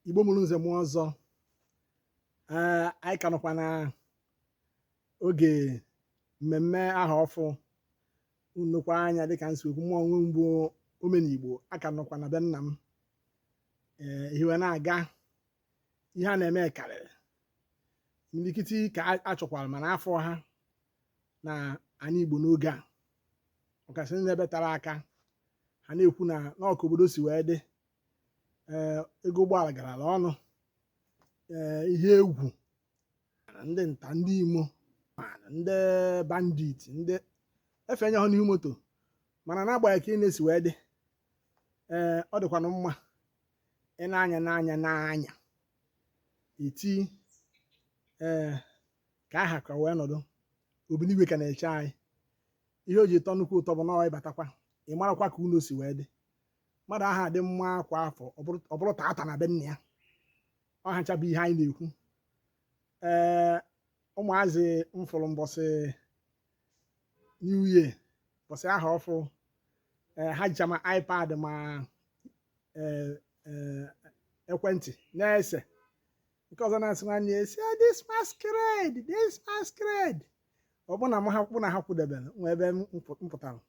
igbo mụrụ nze mụọ ọzọ ee anyị ka nọkwa na oge mmemme aha ọfụ unu nekwa anya dịka m si kwu mụ onwe m bụ omenigbo a ka nọkwa na be nna m ee ihe wee na-aga ihe a na-eme karịrị imirikiti ka a- a chọkwara mana afọ a n'anị Igbo n'oge a ọkasị ndị ebe tere aka ha na-ekwu na ọ ka obodo si wee dị ee ego ụgbọala garala ọnụ ee ihe egwu ndị nta ndị imo ma ndị bandit ndị efe enye ha n'ihu moto mana n'agbanyeghị ka ị na-esi wee dị ee ọ dịkwanụ mma ị na-anya n'anya n'anya iti ee ka aha ka wee nọdụ obinigwe ka na-eche anyị ihe o ji tọ nnukwu ụtọ bụ na ọ ị batakwa ị marakwa ka ụnọ si wee dị mmadụ aha dị mma kwa afọ ọ bụrụ- ọ bụrụ tata na be nna ya ọ hacha bụ ihe anyị na-ekwu ee ụmụazị m fụrụ mbọsị new year mbọsị aha ọfụ eh, ha jicha ma ipad ma eh, eh, ekwentị na-ese nke ọzọ na-asị nwanne ya see this masquerade this masquerade ọ bụ na m ha kpụ na ha kwụdebere nwa ebe m pụ- m pụtara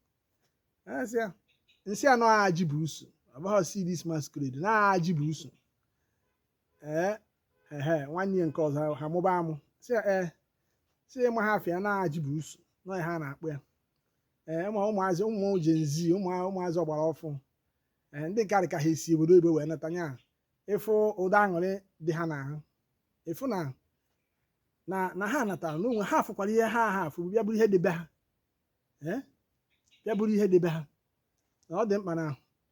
asị ya, m sị ya na ọ ajibusu ọ bụghị see this masquerade na ọ ajibusu ee ehe nwanne ya nke ọzọ ha mụba amụ sị ya ee sị ya ị maha afa ya na ajibusu na ọ ihe a na-akpọ ya ee ma ụmụazị ụmụ Gen Z ụmụazị ọgbara ọfụ ee ndị nke ka ha si obodo oyibo wee nata nya ị fụ ụdị aṅụrị dị ha n'ahụ ị fụ na na ha natara n'onwe ha afụkwara ihe ha ha afụ bịa bụrụ ihe dị be ha ee bịa bụrụ ihe dị be ha na ọ dị mkpa na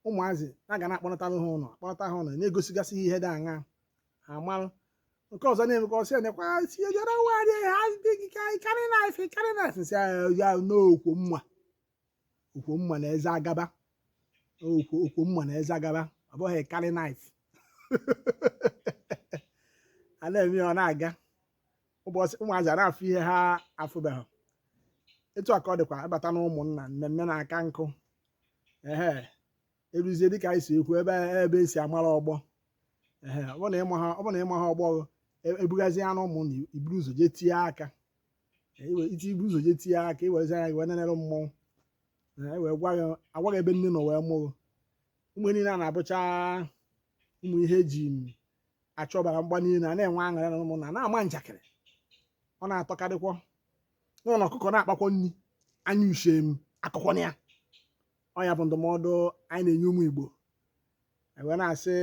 ụmụazị a ga na-akpọnatara ha ụlọ akpọnata ha ụlọ na-egosigasị ihe dị aṅa ha marụ nke ọzọ na-eme ka ọ sị nekwa si ejere nwaanyị ha adịghị ka anyị carry knife carry knife sị ya na ọ okwomma okwomma na eze agaba okwo okwomma na eze agaba ọ bụghị carry knife a na-eme ya ọ na-aga ụbọchị ụmụazị a na-afụ ihe ha afụbeghị etu a ka ọ dịkwa ị bata na ụmụnna mmemme na-aka nkụ ehe eruzie dịka anyị si ekwu ebe ebe e si amara ọgbọ ehe ọ bụrụ na ị maha ọ bụrụ na ị maha ọgbọ e- ebugazie anụ ụmụnna i buru ụzọ jee tinye aka E, iwe iti i buru ụzọ jee tinye aka i werezi anya gị wee nenere mmọnwụ Ee, e wee gwa gị a gwa gị ebe nne nọ wee mụrụ ụmụ niile a na-abụcha ụmụ ihe e ji achọbara mgba niile a na-enwe aṅụrị na ụmụnna na-ama njakịrị ọ na-atọkarịkwọ nwa na ọkụkọ na-akpakwa nri anya uche m akọkwana ya ọ ya bụ ndụmọdụ anyị na-enye ụmụ Igbo anyị wee na-asị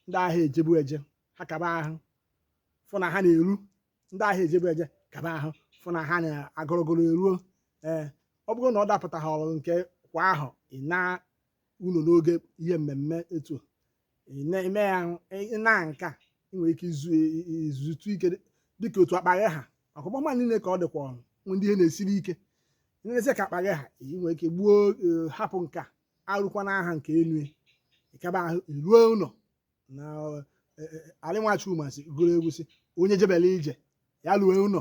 ndị ahịa ejebu eje ha kaba ahụ fụ na ha na-eru ndị ahịa ejebu eje kaba ahụ fụ na ha na-agọrọgọrọ eruo ee ọ bụrụ na ọ dapụtaghị ọrụ nke kwa ahụ ị na unu n'oge ihe mmemme etu a ị na- ime ya ahụ ị- ị na nke ị nwere ike izu i- i- izutụ ike dị- dịka otu akpa gị ha ọkụkpọma niile ka ọ dịkwa ọnụ nwe ndị ihe na-esiri ike lezie ka akpa gị ha ị nwere ike gbuo eh, hapụ nke a arụkwana aha nke elu ya. ị kaba ahụ i ruo ụlọ na eh, eh, Ali nwa Chukwuma sị gụrụ egwu sị onye jebela ije ya lue ụlọ